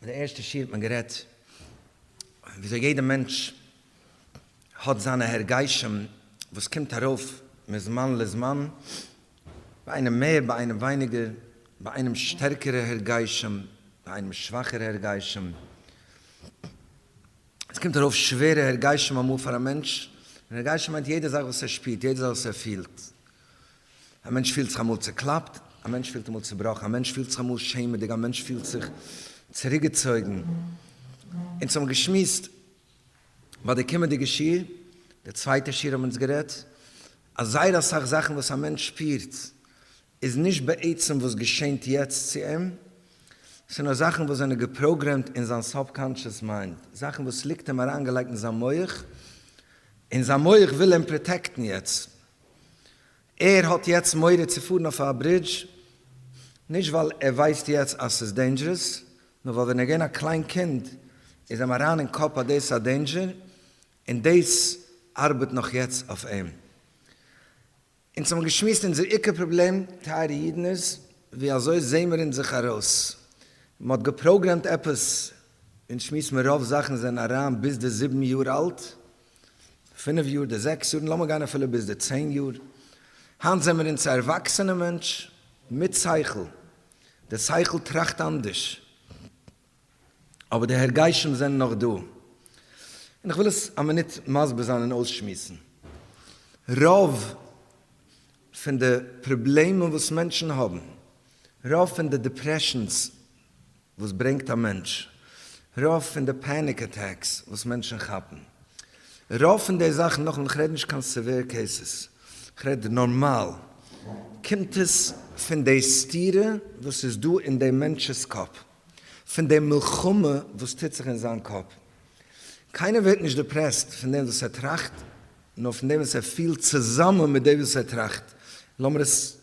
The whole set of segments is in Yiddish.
אין די ערשטע שיעור האט מען גערעדט וויאזוי יעדע מענטש האט זיינע הרגשים וואס קומט ארויף מזמן לזמן, ביי איינעם מער ביי איינעם ווייניגער, ביי איינעם שטערקערע הרגשים ביי איינעם שוואכערע הרגשים, עס קומט ארויף שווערע הרגשים אמאל פאר א מענטש, און הרגשים מיינט יעדע זאך וואס ער שפירט, יעדע זאך וואס ער פילט. א מענטש פילט זיך אמאל צוקלאפט, א מענטש פילט אמאל צובראכן, א מענטש פילט זיך אמאל שעמעדיג, א מענטש פילט זיך צוריקגעצויגן. אונז האבן געשמועסט ביי די קומענדיגע שיעור, די צווייטע שיעור האבן אונז גערעדט אז זייער אסאך זאכן וואס א מענטש שפירט איז נישט בעצם וואס געשענט יעצט צו אים, ס'נאר זאכן וואס זענען געפראגרעמט אין זיין סאבקאנטשעס מיינד, זאכן וואס ליגט אים אריינגעלייגט אין זיין מח, און זיין מח וויל אים פראטעקטן יעצט. ער האט יעצט מורא צו פארן אויף א ברידזש, נישט ווייל ער ווייסט יעצט אז ס'איז דעינדזשערעס, נאר ווייל ווען ער איז געווען א קליין קינד איז אים אריין אין קאפ אז דאס איז א דעינדזשער, און דאס ארבעט נאך יעצט אויף אים. אונז האבן געשמועסט אונזער עיקר פראבלעם טייערע אידן איז, ווי אזוי זעהן מיר אונז זיך ארויס? מען האט געפראגרעמט עפעס, אונז שמועסט מיר רוב זאכן זענען אריין ביז די זיבן יאר אלט, פינף יאר, די זעקס יאר, און לאמיר גיין אפילו ביז די צען יאר, היינט זעמיר אונז א ערוואקסענע מענטש מיט שכל, די שכל טראכט אנדערש, אבער די הרגשים זענען נאך דא, און איך וויל עס א מינוט מסביר זיין און אויסשמועסן. רוב פון די פראבלעמען וואס מענטשן האבן, רוב פון די דיפרעשאנס וואס ברענגט א מענטש רוב פון די פעניק אטעקס וואס מענטשן כאפן, רוב פון די זאכן נאכן איך רעד נישט קיין סעווער קעיסעס, איך רעד נארמאל, קומט עס פון די סתירה וואס איז דא אין דעם מענטש'ס קאפ, פון די מלחמה וואס טוט זיך אין זיין קאפ. קיינער ווערט נישט דעפרעסט פון דעם וואס ער טראכט, נאר פון דעם וואס ער פילט צוזאמען מיט דעם וואס ער טראכט. לאמיר עס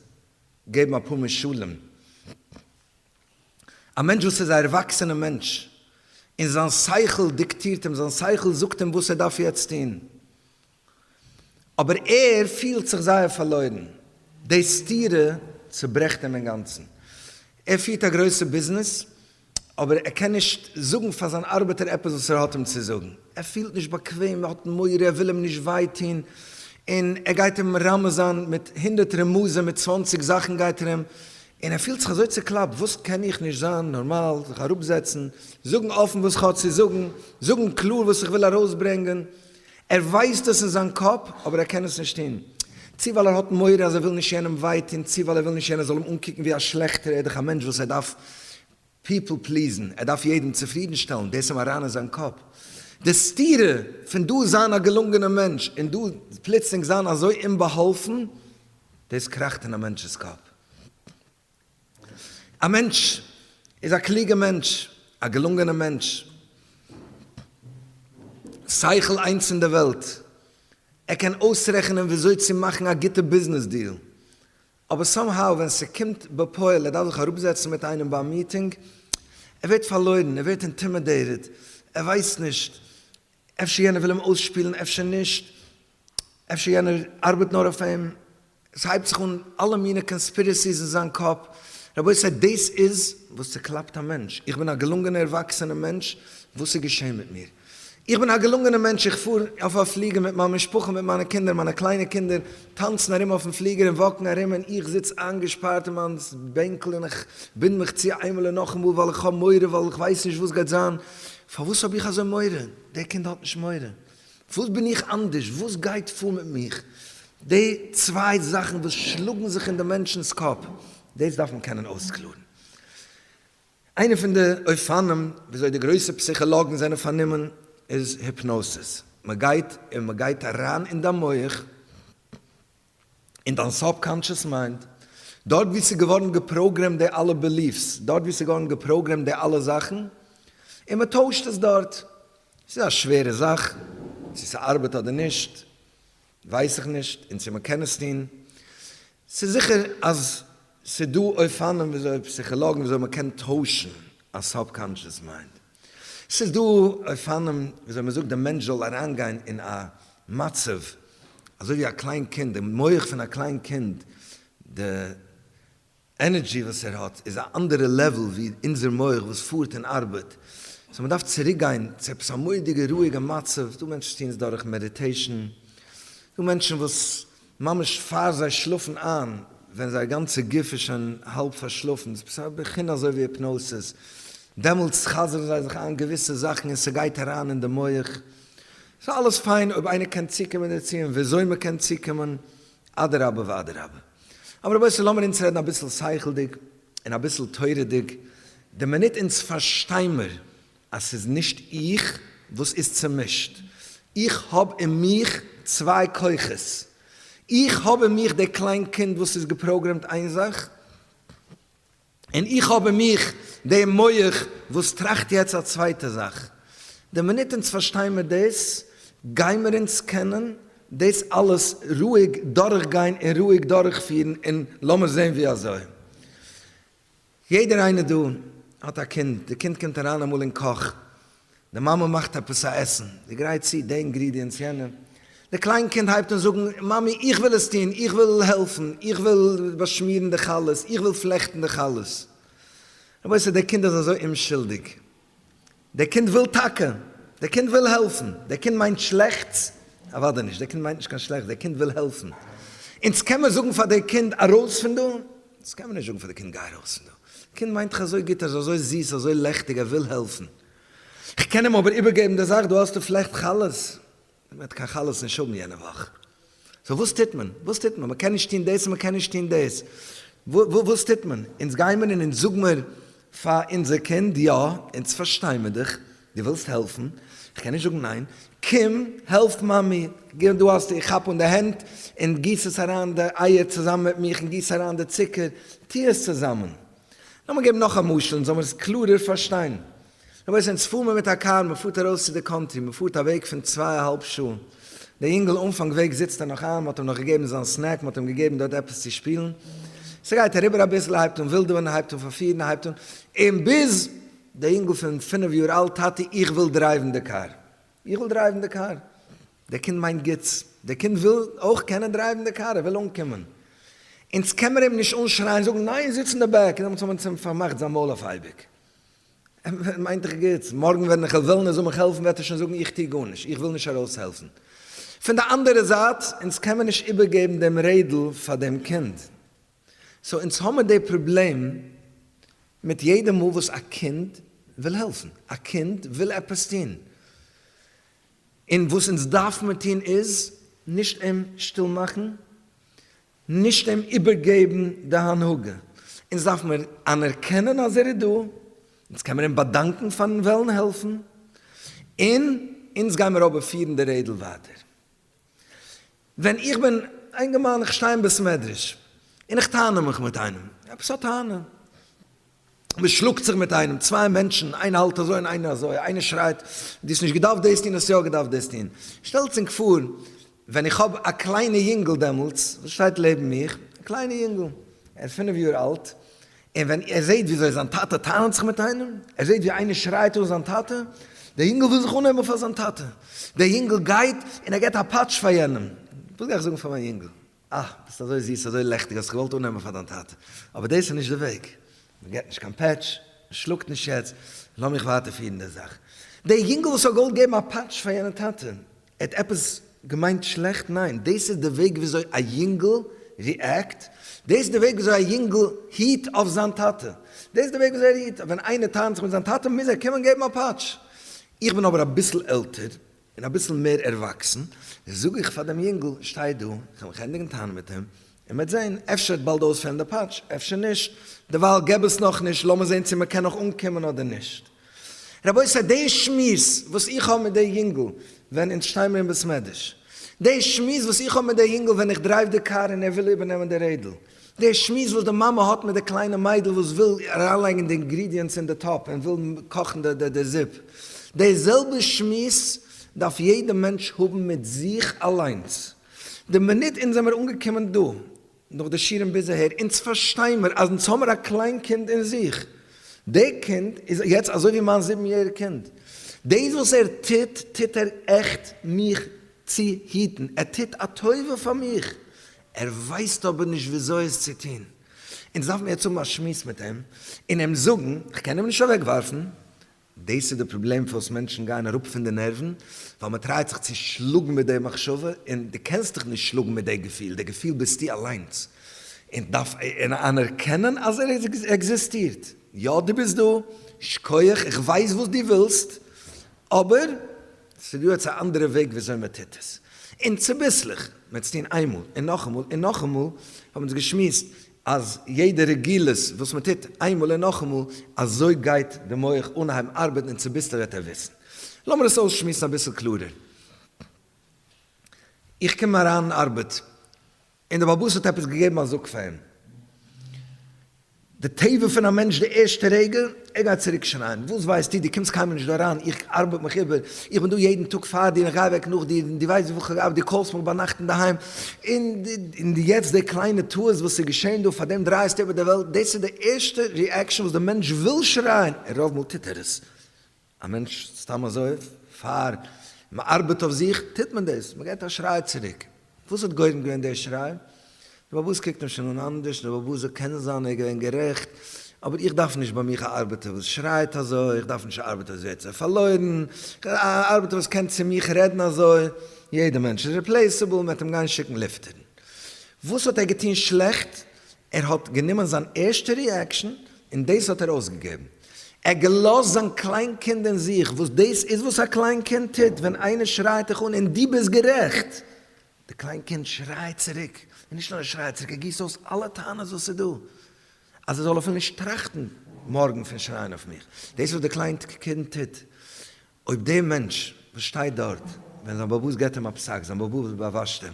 געבן אפאר משלים. א מענטש וואס איז א ערוואקסענע מענטש און זיין שכל דיקטירט אים, זיין שכל זאגט אים וואס ער דארף יעצט טון, אבער ער פילט זיך זייער פארלוירן, די סתירה צוברעכט אים אינגאנצן. ער פירט א גרויסע ביזנעס, אבער ער קען נישט זאגן פאר זיין ארבעטער עפעס וואס ער האט אים צו זאגן, ער פילט נישט באקוועם, ער האט מורא, ער וויל אים נישט וויי טון, און ער גייט אים רמז'ן מיט הונדערט רמזים, מיט צוואנציג זאכן גייט ער אים און ער פילט זיך אזוי צוקלאפט, וואס קען איך נישט זיין נארמאל, זיך אראפזעצן, זאגן אפן וואס כ'האב צו זאגן, זאגן קלאר וואס איך וויל ארויסברענגען, ער ווייסט עס אין זיין קאפ אבער ער קען עס נישט טון, צו ווייל ער האט מורא אז ער וויל נישט יענעם וויי טון, צו ווייל ער וויל נישט יענער זאל אים אנקוקן ווי א שלעכטער, ער איז דאך א מענטש וואס ער דארף פיפל פליזן, ער דארף יעדן צופרידן שטעלן, דאס אים אריין אין זיין קאפ, די סתירה פון דא זיין א געלונגענער מענטש און דא פלוצלינג זיין אזוי אומבאהאלפן, דאס קראכט אין א מענטש'ס קאפ. א מענטש איז א קלוגער מענטש, א געלונגענער מענטש, שכל איינס אין די וועלט, ער קען אויסרעכענען ווי אזוי צו מאכן א גוטע ביזנעס דיעל, אבער סאם האו ווען ס'קומט בפועל ער דארף זיך אראפזעצן מיט איינעם ביי א מיטינג, ער ווערט פארלוירן, ער ווערט אינטימעדעיטעד, ער ווייסט נישט, אפשר יענער וויל אים אויסשפילן אפשר נישט, אפשר יענער ארבעט נאר אויף אים, עס הייבט זיך אן אלע מיני קאנספירעסיס אין זיין קאפ, רבותי דאס איז וואס צוקלאפט א מענטש, איך בין א געלונגענער ערוואקסענע מענטש, וואס איז געשען מיט מיר? איך בין א געלונגענע מענטש, איך פאר אויף א פליגער מיט מיין משפחה, מיט מיינע קינדער, מיינע קליינע קינדער טאנצן ארום אויפן פליגער און וואקן ארום און איך זיץ איינגעשפארט אין מיין בענקל און איך בינד מיך צו איינמאל און נאכאמאל ווייל איך האב מורא ווייל איך ווייס נישט וואס גייט זיין, פארוואס האב איך אזוי מורא? דער קינד האט נישט מורא, וואס בין איך אנדערש? וואס גייט פאר מיט מיך? די צוויי זאכן וואס שלאגן זיך אין די מענטשנ'ס קאפ, דאס דארף מען קענען אויסקלארן. איינע פון די אופנים וויאזוי די גרויסע פסיכאלאגן זענען פארנומען איז היפנאסיס, מען גייט און מען גייט אריין אין דיין מח, אין דיין סאבקאנטשעס מיינד, דארט וואו ס'איז געווארן געפראגרעמט די אלע בעליף'ס, דארט וואו ס'איז געווארן געפראגרעמט די אלע זאכן, און מען טוישט עס דארט. ס'איז א שווערע זאך צו ס'ארבעט אדער נישט. ווייס איך נישט און צו מען קען עס טון, ס'איז זיכער אז ס'איז דא אופנים וויאזוי פסיכאלאגן וויאזוי מען קען טוישן א סאבקאנשעס מיינד, ס'איז דא אופנים וויאזוי מען זאגט די מענטש זאל אריינגיין אין א מצב אזוי ווי א קליין קינד, די מח פון א קליין קינד, די. ענערדזשי וואס ער האט איז א אנדערע לעוועל ווי אונזער מח וואס פארט און ארבעט, סאו מ'דארף צוריק גיין צו עפעס א מודיגע רואיגע מצב, דא מענטשן טוען עס דורך מעדיטעישן, דא מענטשן וואס ממש פאר זיי שלאפן איין ווען זייער גאנצע גוף איז שוין האלב פארשלאפן, ס'איז עפעס א בחינה אזוי ווי היפנאוסיס, דעמאלטס חזר'ן זיי זיך איין געוויסע זאכן און ס'גייט אריין אין די מח, ס'אלעס פיין אויב איינער קען צוקומען דערצו און וויאזוי מ'קען צוקומען, אדרבה ואדרבה. אבער רבותי לאמיר אונז רעדן אביסל שכל'דיג און אביסל תורה'דיג, די מינוט אונז פארשטיימער אז ס'איז נישט איך וואס איז צומישט, איך האב אין מיך צוויי כוחות, איך האב אין מיך די קליין קינד וואס איז געפראגרעמט איין זאך, און איך האב אין מיך דעם מח וואס טראכט יעצט א צווייטע זאך. די מינוט אונז פארשטיין מיר דאס, גיימער אונז קענען דאס אלעס רואיג דורכגיין און רואיג דורכפירן, און לאמיר זען ווי אזוי. יעדער איינער דא האט א קינד, די קינד קומט אריין אמאל אין קאך, די מאמע מאכט עפעס א עסן, זי גרייט צו די אינגרידיענטס יענעם, די קליין קינד הייבט אן זאגן, מאמי איך וויל עס טון, איך וויל העלפן, איך וויל באשמירן די חלות, איך וויל פלעכטן די חלות. רבותי די קינד איז אזוי אומשולדיג, די קינד וויל טאקע, די קינד וויל העלפן, די קינד מיינט שלעכטס? אוודאי נישט, די קינד מיינט נישט קיין שלעכטס, די קינד וויל העלפן, אונז קען מיר זאגן פאר די קינד ארויס פון דא, דאס קען מען נישט זאגן פאר די קינד, גיי ארויס פון דא, די קינד מיינט דיך אזוי גוט, ער איז אזוי זיס, אזוי לעכטיג, ער וויל העלפן, איך קען אים אבער איבערגעבן די זאך, דא האסטו פלעכט חלות, ער וועט קיין חלות נישט האבן יענע וואך, סאו וואס טוט מען, וואס טוט מען, מען קען נישט טון דאס און מען קען נישט טון דאס, וואס טוט מען, אונז גיי מיר און אונז זאג מיר פאר אונזער קינד, יא, אונז פארשטיי מיר דיך, דו ווילסט העלפן, איך קען נישט זאגן ניין, קום העלף מאמי, גיב דא האסטו, איך כאפ אן די הענט און גיס עס אריין די אייער צוזאמען מיט מיך און גיס אריין די צוקער, טו עס צוזאמען. לאמיר געבן נאך א משל און זאל מיר עס קלארער פארשטיין, רבותי אונז פאר מיר מיט א קאר מען פארט ארויס צו די קאנטרי מען פארט א וועג פון צוויי א האלב שעה דער יונגעל אנפאנג וועג זיצט ער נאך איין מען האט אים נאך געגעבן זיין סנעק מען האט אים געגעבן דארט עפעס צו שפילן ס'גייט אריבער אביסל ער הייבט אן ווילדעווען ער הייבט אן פארפירן ער הייבט אן און ביז דער יונגעל פון פינף יאר אלט טאטי איך וויל דרייוון די קאר איך וויל דרייוון די קאר דער קינד מיינט גוטס דער קינד וויל אויך קענען דרייוון די קאר ער וויל אנקומען אונז קען מיר אים נישט אנשרייען זאגן ניין זיץ אין די בעק און דעמאלטס האט מען צו אים פארמאכט זיין מויל אויף אייביג ער מיינט דאך גוטס, מארגן ווען איך וועל וועלן ער זאל מיך העלפן וועט ער שוין זאגן איך טו גארנישט, איך וויל נישט ארויסהעלפן. פון די אנדערע זייט, אונז קען מען נישט איבערגעבן דעם רעדל פאר דעם קינד. סאו אונז האבן די פראבלעם מיט יעדע מאל וואס א קינד וויל העלפן, א קינד וויל עפעס טון, און וואס אונז דארף מיר טון איז, נישט אים שטיל מאכן, נישט אים איבערגעבן די הנהגה, אונז דארף מיר אנערקענען אז ער איז דא, אונז קען מיר אים באדאנקן פארן וועלן העלפן, און אונז גיי מיר אבער פירן די רעדל ווייטער. ווען איך בין א אינגערמאן איך שטיי אין בית מדרש און איך טענה מיך מיט איינעם, עפעס א טענה, מען שלאגט זיך מיט איינעם, צוויי מענטשן, איינער האלט אזוי און איינער אזוי, איינער שרייט, דו האסט נישט געדארפט דאס טון, האסט יא געדארפט דאס טון. שטעלטס ענק פאר ווען איך האב א קליינע יונגל דעמאלטס, וואס שטייט לעבן מיך, א קליינע יונגל, ער איז פינף יאר אלט, און ווען ער זעט וויאזוי זיין טאטע טענה'ט זיך מיט איינעם, ער זעט ווי איינער שרייט אן זיין טאטע, דער יונגל וויל זיך אנהייבן פאר זיין טאטע, דער יונגל גייט און ער געבט א פאטש פאר יענעם, וואס גיי איך זאגן פאר מיין יונגל? אה, ביסט אזוי זיס, אזוי לעכטיג, האסט זיך געוואלט אננעמען פאר דיין טאטע. אבער דאס איז נישט די וועג. מען געט נישט קיין פעטש, מען שלאגט נישט יעצט. לאמיך ווייטער פירן די זאך. דער יונגל וואס האט געוואלט געבן א פאטש פאר יענע טאטע, ער האט עפעס געמיינט שלעכט? ניין, דאס איז די וועג וויאזוי א יונגל ריעקט, דאס איז די וועג וויאזוי א יונגל היט אויף זיין טאטע. דאס איז די וועג וויאזוי ער היט אויף. ווען איינער טענה'ט זיך מיט זיין טאטע, מוז ער קומען און געבן א פאטש. איך בין אבער אביסל עלטער, און אביסל מער ערוואקסן, זאג איך פאר דעם יונגל, שטיי דא, איך וועל מיך ענדיגן טענה'ן מיט אים, און מ'וועט זען, אפשר ער וועט באלד אויספעלן די פאטש, אפשר נישט, דערווייל געב עס נאך נישט, לאמיר זען צו מ'קען נאך אנקומען אדער נישט. רבותי, די שמועס וואס איך האב מיט די יונגל ווען אונז שטיי מיר אין בית מדרש, די שמועס וואס איך האב מיט די יונגל ווען איך דרייוו די קאר און ער וויל איבערנעמען די רעדל, די שמועס וואס די מאמע האט מיט די קליינע מיידל וואס וויל אריינלייגן די אינגרידיענטס אין די טאפ און וויל קאכן די זופ, די זעלבע שמועס דארף יעדע מענטש האבן מיט זיך אליינס. די מינוט אונז זעמיר אנגעקומען דא, נאך די שיעורים ביז אהער, אונז פארשטיי מיר אז אונז האמיר א קליין קינד אין זיך, די קינד איז יעצט אזוי ווי מיין זיבן יעריג קינד, דאס וואס ער טוט, טוט ער עכט מיך צו היטן, ער טוט א טובה פאר מיך, ער ווייסט אבער נישט וויאזוי עס צו טון. אונז דארף מיר יעצט האבן א שמועס מיט אים און אים זאגן, כ'קען אים נישט אוועקווארפן. דאס איז די פראבלעם פארוואס מענטשן גייען אראפ פון די נערוון, ווייל מען טרייט זיך צו שלאגן מיט די מחשבה, און דו קענסט דיך נישט שלאגן מיט די געפיל, די געפיל ביסטו אליינס, און דארף אנערקענען אז ער עקזיסטירט. יא דו ביסט דא, שקויעך, איך ווייס וואס דו ווילסט, אבער. ס'איז דא עטס א אנדערע וועג וויאזוי מ'טוט עס? און צוביסלעך, מ'עטס טון איינמאל און נאכאמאל און נאכאמאל, האבן אונז געשמועסט אז יעדע רגילות וואס מ'טוט איינמאל און נאכאמאל, אזוי גייט די מח אנהייבן ארבעטן און צוביסלעך וועט ער וויסן. לאמיר עס אויסשמועסן אביסל קלארער. איך קום אריין ארבעט און דער באלבאס האט עפעס געגעבן א זאג פאר אים. די טבע פון א מענטש די ערשטע רגע, ער גייט צוריק שרייען, וואס ווייסטו, דו קומסט קיינמאל נישט דא אריין, איך ארבעט מיך איבער, איך בין דא יעדן טאג פאר דיר און גיי אוועק נאך דיר, און דו ווייסט וויפיל כ'האב געארבעט, דו קאלסט מיך ביינאכט אינדערהיים, און יעצט די קליינע טעות וואס איז געשען דא, פארדעם דרייסטו איבער די וועלט, דאס איז די ערשטע ריעקשאן וואס די מענטש וויל שרייען, און רוב מאל טוט ער עס. א מענטש סתם אזוי פאר מען ארבעט אויף זיך טוט מען דאס, מען געבט א שריי צוריק, וואס האט גורם געווען די שריי? די באבע ז קוקט אים שוין אן אנדערש, די באבע ז קען זיין ער איז געווען גערעכט, אבער איך דארף נישט ביי מיך א ארבעטער וואס שרייט אזוי, איך דארף נישט א ארבעטער וואס ווערט אזוי פארלוירן, א ארבעטער וואס קען צו מיך רעדן אזוי, יעדע מענטש איז ריפלעיסעבל, מען וועט אים גיין שיקן ליפטערן. וואס האט ער געטון שלעכט? ער האט גענומען זיין ערשטע ריעקשאן און דאס האט ער אויסגעגעבן. ער האט געלאזט זיין קליין קינד אין זיך, וואס דאס איז וואס א קליין קינד טוט, ווען איינער שרייט דיך אן און דו ביסט גערעכט, די קליין קינד שרייט צוריק, און נישט נאר ער שרייט צוריק, ער גיסט אויס אלע טענות וואס איז דא, אז ער זאל אפילו נישט טראכטן מארגן פון שרייען אויף מיך, דאס איז וואס די קליין קינד טוט, אויב דער מענטש וואס שטייט דארט, ווען זיין באבא געבט אים א פסק, זיין באבא וואס באוואשט אים,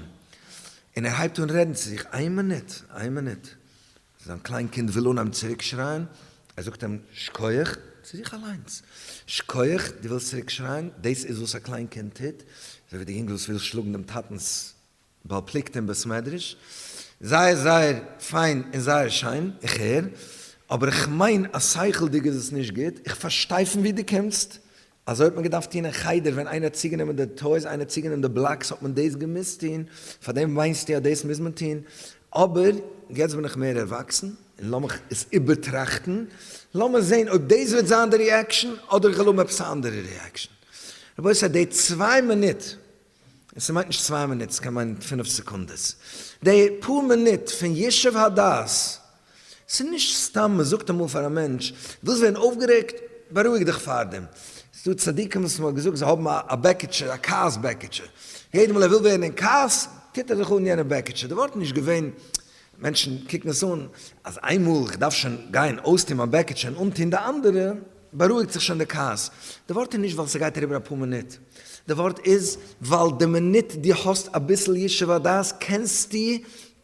און ער הייבט אן רעדן צו זיך, איין מינוט, איין מינוט. זיין קליין קינד וויל אנהייבן צוריק שרייען, ער זאגט אים שקויעך, צו זיך אליינס, שקויעך, דו ווילסט צוריק שרייען, דאס איז וואס א קליין קינד טוט, אזוי ווי די יונגל וואס וויל שלאגן דעם טאטנס ווייל פליקט אין בית מדרש, זייער זייער פיין און זייער שיין, איך הער, אבער איך מיין אז שכל'דיג איז עס נישט גוט, איך פארשטיי פון וואו דו קומסט, אזוי האט מען געדארפט טון אין חדר ווען איינער האט צוגענומען די טויס איינער האט צוגענומען די בלאקס האט מען דאס געמוזט טון, פארדעם מיינסטו אז דאס מוז מען טון? אבער יעצט בין איך מער ערוואקסן און לאמיך עס איבערטראכטן, לאמיר זען אויב דאס וועט זיין די ריעקשאן אדער איך וועל האבן עפעס א אנדערע ריעקשאן. רבותי די צוויי מינוט און ס'מיינט נישט צוויי מינוט, ס'קען מיינען פינף סעקונדעס. די פאר מינוט פון ישוב הדעת, ס'איז נישט סתם מ'זאגט אמאל פאר א מענטש, ווילסט ווערן אויפגערעגט? בארואיג דיך פארדעם. ס'דא צדיקים וואס מ'האט געזאגט זיי האבן א בעקיטשע, א כעס בעקיטשע. יעדע מאל ער וויל ווערן אין כעס, טוט ער זיך אן יענע בעקיטשע. די ווארט איז נישט געווען, מענטשן קוקן עס אן, אז איינמאל כ'דארף שוין גיין אויסטון מיין בעקיטשע און אנטון די אנדערע, בארואיגט זיך שוין די כעס. די ווארט איז נישט ווייל ס'גייט אריבער אפאר מינוט. די ווארט איז ווייל די מינוט דו האסט אביסל ישוב הדעת קענסטו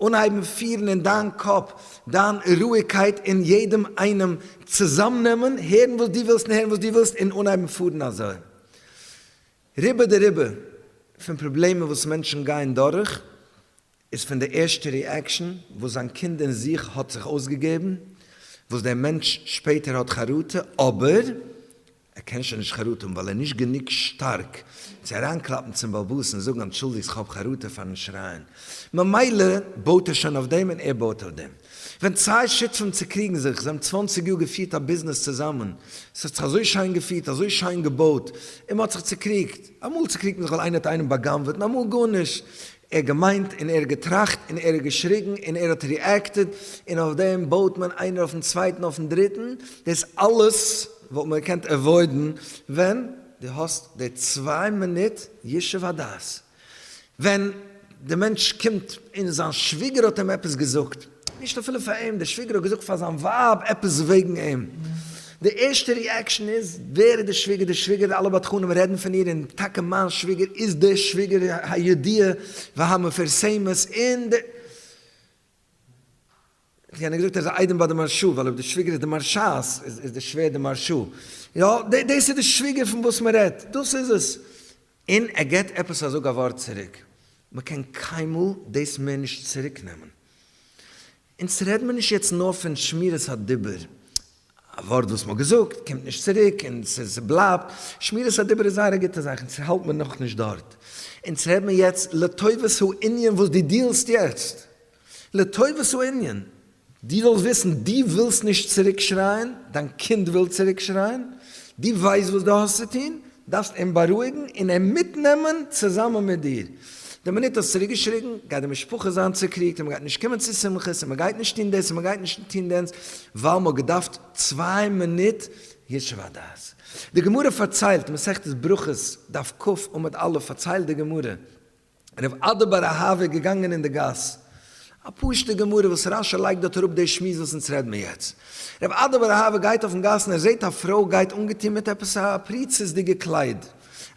אנהייבן פירן אין דיין קאפ דיין רואיגקייט און יעדעם איינעם צוזאמנעמען, הערן וואס דו ווילסט און הערן וואס דו ווילסט און אנהייבן פארן אזוי. רובא דרובא פון פראבלעמען וואס מענטשן גייען דורך איז פון די ערשטע ריעקשאן וואס זיין קינד אין זיך האט זיך אויסגעגעבן, וואס דער מענטש שפעטער האט חרטה, אבער ער קען שוין נישט חרטה האבן ווייל ער איז נישט גענוג שטארק צו אריינקלאפן צום באבוס און זאגן אנטשולדיגטס כ'האב חרטה פארן שרייען, ממילא בויט ער שוין אויף דעם און ער בויט אויף דעם. ווען צוויי שותפים צוקריגן זיך, זיי האבן צוואנציג יאר געפירט א ביזנעס צוזאמען, עס האט זיך אזוי שיין געפירט, אזוי שיין געבויט, און מען האט זיך צוקריגט, אמאל צוקריגט מען זיך ווייל איינער האט איינעם בא'גנב'עט און אמאל גארנישט, ער האט געמיינט און ער האט געטראכט און ער האט געשריגן און ער האט ריעקטעד און אויף דעם בויט מען איינער אויפן צווייטן אויפן דריטן, דאס אלעס וואלט מען געקענט עוואוידן ווען דו האסט די צוויי מינוט ישוב הדעת ווען די מענטש קומט און זיין שוויגער האט אים עפעס געזאגט. נישט אפילו פאר אים, דער שוויגער האט געזאגט פאר זיין ווייב עפעס וועגן אים. די ערשטע ריעקשאן איז, ווער איז די שוויגער די שוויגער, אלע בדחנים רעדן פון איר, און טאקע מיין שוויגער איז די שוויגער הידועה והמפורסמת אין די. איך האב געזאגט ער איז א איידעם ביי די מהרשא, ווייל אויב די שוויגער איז די מהרשא'ס, איז די שווער די מהרשא. יא, דאס איז די שוויגער פון וואס מען רעדט, דאס איז עס. און ער געט עפעס א זאג א ווארט צוריק, מ'קען קיינמאל דאס מער נישט צוריק נעמען. אונז רעד מיר נישט יעצט נאר פון שמירת הדיבור, א ווארט וואס מ'האט געזאגט קומט נישט צוריק און ס'בלייבט, שמירת הדיבור איז זייער א גוטע זאך, אונז האלט מיר נאכנישט דארט, אונז רעד מיר יעצט לטובת הענין וואס דו דיעלסט יעצט, לטובת הענין, דו זאלסט וויסן, דו ווילסט נישט צוריק שרייען, דיין קינד וויל צוריק שרייען, דו ווייסט וואס דו האסט צו טון, דארפסט אים בארואיגן און אים מיטנעמען צוזאמען מיט דיר. די מינוט דו האסט צוריק געשריגן, גייט די משפחה זיין צוקריגט, און מען גייט נישט קומען צו שמחות, און מען גייט נישט טון דאס, און מען גייט נישט טון דענס, ווייל מען האט געדארפט צוויי מינוט ישוב הדעת. די גמרא פארציילט, מסכת ברכות, דף כ, עמוד א', פארציילט די גמרא, רב אדא בר אהבה איז געגאנגען אין די גאס. א פשוטע גמרא וואס רש י לייגט דארט אראפ די שמועס וואס אונז רעד מיר יעצט. רב אדא בר אהבה גייט אויפן גאס און ער זעט א פרוי גייט אנגעטון מיט עפעס א פריצות'דיגע קלייד.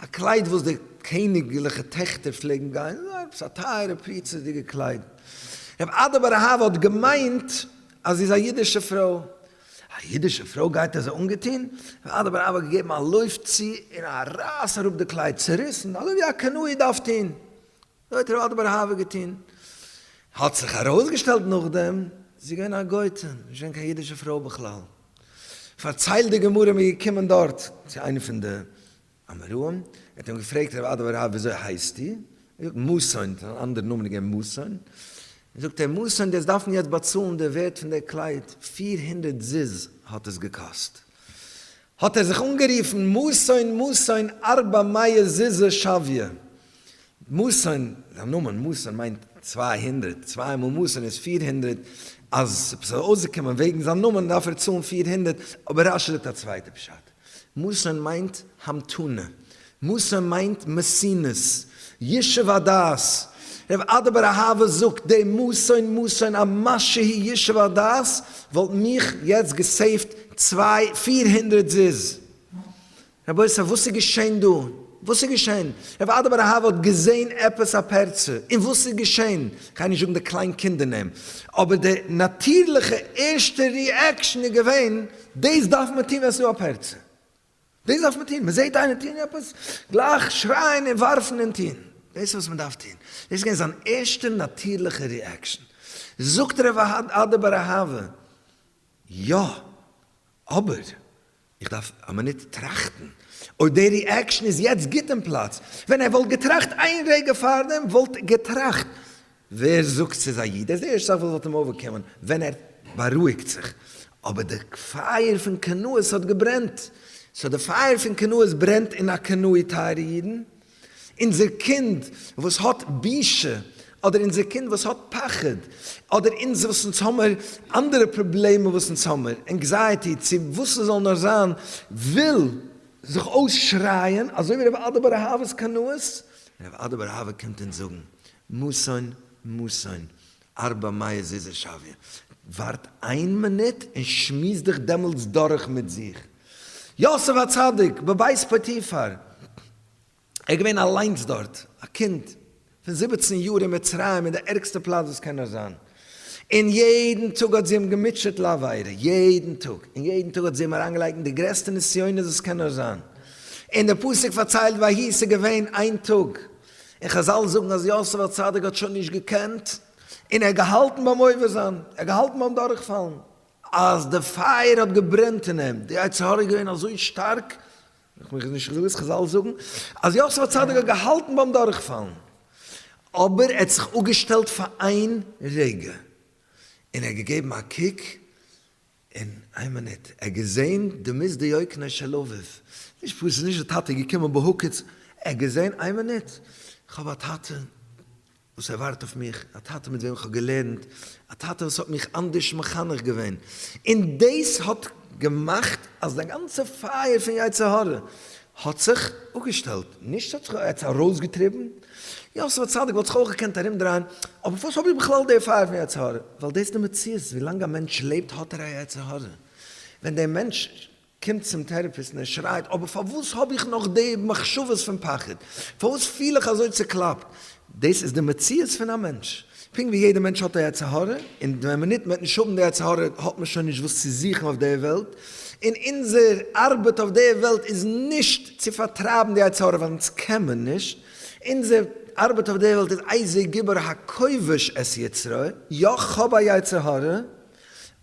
א קלייד וואס די קעניגליכע טעכטער פלעגן גיין. עפעס א טייערע פריצות'דיגע קלייד. רב אדא בר אהבה האט געמיינט אז זי איז א אידישע פרוי. א אידישע פרוי גייט אזוי אנגעטון? ועד הבראווע האט געגעבן א לויף צו און א רייס אראפ די קלייד, צוריסן, אזוי ווי א קנאי דארף טון. אזוי האט ועד הבראווע געטון. האט זיך ארויסגעשטעלט נאכדעם, זי איז געווען א גוי'טע, נישט געווען קיין אידישע פרוי בכלל. פארציילט די גמרא, מ'איז געקומען דארט צו איינע פון די אמרם, ער האט אים געפרעגט רבי אדא הרב וויאזוי הייסטו? ער האט געזאגט מאסאן, עס איז אן אנדער נאמען געווען מאסאן, זאגט ער מאסאן דו עסט דארפן יעצט באצאלן די ווערט פון דער קלייד, פיר הונדערט זוז האט עס געקאסט, האט ער זיך אנגערופן מאסאן מאסאן ארבע מאה זוז שוויה, מאסאן, זיין נאמען מאסאן מיינט צוויי הונדערט, צוויי מאל מאסאן איז פיר הונדערט, אז עפעס זאל אויסגעקומען וועגן זיין נאמען דארף ער צאלן פיר הונדערט, אבער רשי זאגט א צווייטע פשט. מאסן מיינט המתנה. מאסן מיינט מסינות. ישוב הדעת. ר' אדב ארהאווע זאגט דעם מאסן מאסן א משהו הי ישוב הדעת וואלט מיך יעצט געסעיווט צוויי פיר הונדרעט זיז. רבותי וואס איז געשען דא? וואס איז געשען? ר' אדב ארהאווע האט געזען עפעס א פערצע און וואס איז געשען? כ'גיי נישט זאגן די קליין קינדער נעם אבער די נאטירליכע ערשטע ריעקשן איז געווען. דאס דארף מען טון ווען עס איז א פרצה, דאס דארף מען טון, מען זעט איינער טון עפעס, גלייך שרייען און ווארפן און טון, דאס איז וואס מען דארף טון, דאס איז געווען זיין ערשטע נאטירליכע ריעקשאן, זאגט ר' אוהד אדער ביי ר' אהבה, יא, אבער איך דארף א מינוט טראכטן אויב די ריעקשאן איז יעצט גוט אין פלאץ, ווען ער וואלט געטראכט איין רגע פארדעם וואלט ער געטראכט ווער זאגט ס'איז א איד? ער איז דער ערשטער וואס וואלט אים אוועקגעקומען ווען ער בארואיגט זיך. אבער די פייער פון קנאות האט געברענט. סאו די פייער פון קנאות ברענט אין א קנאי טייערע אידן. אונזער קינד וואס האט בושה, אדער אונזער קינד וואס האט פחד, אדער אונז וואס אונז האמער אנדערע פראבלעמען וואס אונז האמער, ענקזייעטי צו וואס ס'זאל נאר זיין, וויל זיך אויסשרייען אזוי ווי ר' אדא בר אהבה איז קנאות. ר' אדא בר אהבה קומט אונז זאגן מוסון מוסון ארבע מאה זיזע שוויא, ווארט איין מינוט און שמועס דיך דעמאלטס דורך מיט זיך. יוסף הצדיק בבית פוטיפר, ער איז געווען אליינס דארט, א קינד פון זיבעצן יאר אין מצרים אין די ערגסטע פלאץ וואס קען נאר זיין, און יעדן טאג האט זי אים געמוטשעט לעבירה, יעדן טאג, און יעדן טאג האט זי אים אריינגעלייגט אין די גרעסטע נסיונות וואס קען נאר זיין, און די פסוק פארציילט ויהי ס'איז געווען איין טאג און חזל זאגן אז יוסף הצדיק האט שוין נישט געקענט, און ער האט געהאלטן ביים עובר זיין, ער האט געהאלטן ביים דורכפאלן. אז די פייער האט געברענט אין אים, די יצר הרע איז געווען אזוי שטארק, איך מיך איז נישט געזאגט וואס חזל זאגן, אז יוסף הצדיק האט געהאלטן ביים דורכפאלן, אבער ער האט זיך אפגעשטעלט פאר איין רגע, און ער האט געגעבן א קוק, אין איין מינוט ער געזעהן די מז' דיוקנא של אביו, נישט פשוט ס'איז נישט די טאטע געקומען בהוקץ, ער געזעהן איין מינוט כ'האב א טאטע וואס ער ווארט אויף מיך, א טאטע מיט וועם כ'האב געלערנט, א טאטע וואס האט מיך אנדערש מחנך געווען, און דאס האט געמאכט אז די גאנצע פייער פון יצר הרע האט זיך אפגעשטעלט, נישט האט זיך עטץ ארויסגעטריבן, יוסף הצדיק וואלט זיך אויך געקענט ארומדרייען, אבער פארוואס האב איך בכלל די פייער פון יצר הרע, ווייל דאס איז די מציאות, ווילאנג א מענטש לעבט האט ער א יצר הרע, ווען דער מענטש קומט צום טערעפיסט און ער שרייט, אבער פארוואס האב איך נאך די מחשבות פון פחד, פארוואס פיל איך אזוי צוקלאפט, דאס איז די מציאות פון א מענטש. פונקט ווי יעדע מענטש האט א יצר הרע, און ווען מ'נוט מ'וועט נישט האבן די יצר הרע האט מען שוין נישט וואס צו זוכן אויף די וועלט, און אונזער ארבעט אויף די וועלט איז נישט צו פארטרייבן די יצר הרע ווייל אונז קען מען נישט, אונזער ארבעט אויף די וועלט איז איזה גבר הכובש את יצרו, יא כ'האב א יצר הרע,